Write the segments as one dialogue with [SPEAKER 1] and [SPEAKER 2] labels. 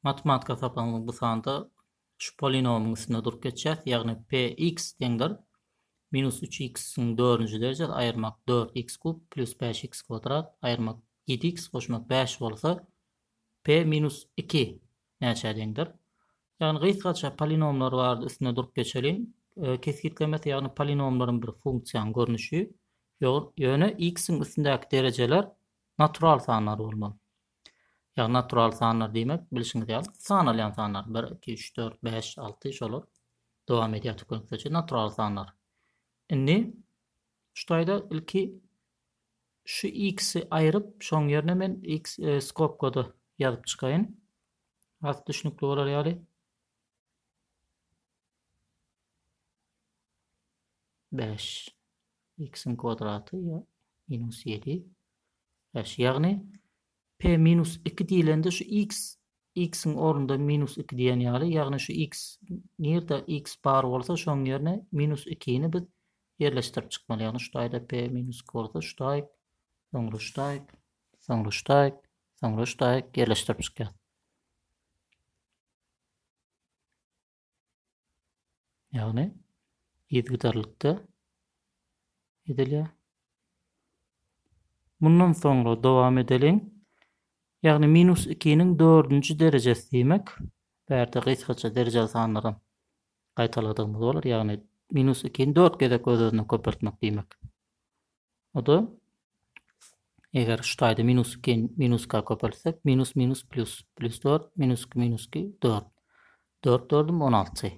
[SPEAKER 1] Matematika sapagymyz bu sanda şu polinomiň üstünde durup geçýäs, ýagny p x deňdir minus üç x-iň dördünji derejesi aýyrmak dört x kub plyus bäş x kwadrat aýyrmak ýedi x goşmak bäş bolsa, p minus iki näçä deňdir? Ýagny gysgaça polinomlar barada üstünde durup geçeliň. Kesgitlemesi, ýagny polinomlaryň bir funksiýanyň görnüşi, ýöne x-iň üstündäki derejeler natural sanlar bolmaly. Ýagny natural sanlar diýmek, bilşiňiz ýaly, sanalýan sanlar, bir, iki, üç, dört, bäş, alty, şolar dowam edýär türkmenlikde çenli natural sanlar. Indi şu taýda ilki şu x-i aýryp, şoň ýerine men x e, skobkada ýazyp çykaýyn. Az düşnükli bolar ýaly. Bäş. X-iň kwadraty ýa minus ýedi. Eş, ýagny p minus iki diýlende şu x, x-iň ornunda minus iki diýen ýaly, ýagny şu x, nirde x bar bolsa şoň ýerine minus ikini biz ýerleşdirip çykmaly, ýagny şu taýda p minus iki bolsa şu taýyk, soňra şu taýyk, soňra şu taýyk, soňra şu taýyk ýerleşdirip çykýas. Ýagny yzgydarlykda edilýär. Mundan soňra dowam edeliň. Ýagny minus ikiniň dördünji derejesi diýmek, bärde gysgaça derejeli sanlaram gaýtaladygymyz bolar, ýagny minus ikini dört gezek öz-özüne köpeltmek diýmek. O-da eger şu taýda minus iki minus iki köpeltsek, minus minus plýus, plýus dört, minus iki minus iki dört. Dört dördüm on alty.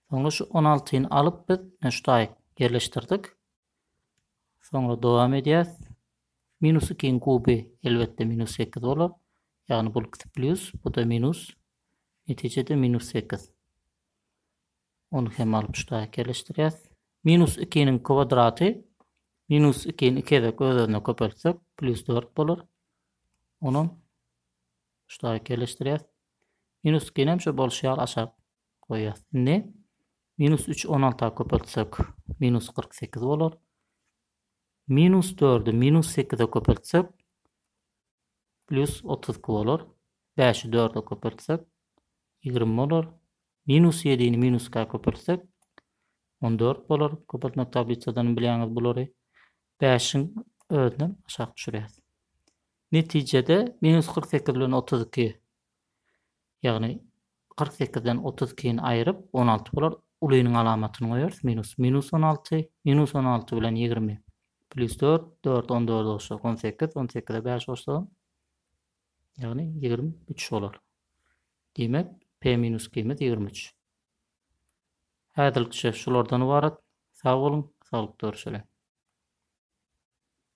[SPEAKER 1] Soňra şu on altyny alyp biz şu taýy ýerleşdirdik. Soňra dowam edýäs. Minus ikiň kuby elbetde minus sekiz bolar. Ýagny bu ikisi plýus, bu-da minus. Netijede minus sekiz. Ony hem alyp şu taýak ýerleşdirýäs. Minus ikiniň kwadraty minus ikini iki gezek öz-özüne köpeltsek, plýus dört bolar. Onam şu taýak ýerleşdirýäs. Minus ikini hem şo bolşy ýaly aşak goýýas. Indi minus üç on alta köpeltsek, minus kyrk sekiz bolar. Minus dördü minus sekize köpeltsek, plýus otuz iki bolar. Bäşi dörde köpeltsek, ýigrimi bolar. Minus ýedini minuska köpeltsek, on dört bolar. Köpeltme tablisadanam bilýäňiz bulary. Bäşiň özünem aşak düşürýäs. Netijede minus kyrk sekiz bilen otuz iki, ýagny kyrk sekizden otuz ikini aýryp, on alty bolar. Ulynyň alamatyny goýarys, minus. Minus on alty, minus on alty bilen ýigrimi, plýus dört, dört on dörde goşsak, on sekiz, on sekize bäş goşsagam, Ýagny ýigrimi üç bolar. Diýmek, p minus q-myz ýigrimi üç. Häzirlikçe şulardan ybarat. Sag boluň, saglyk dörüşeliň!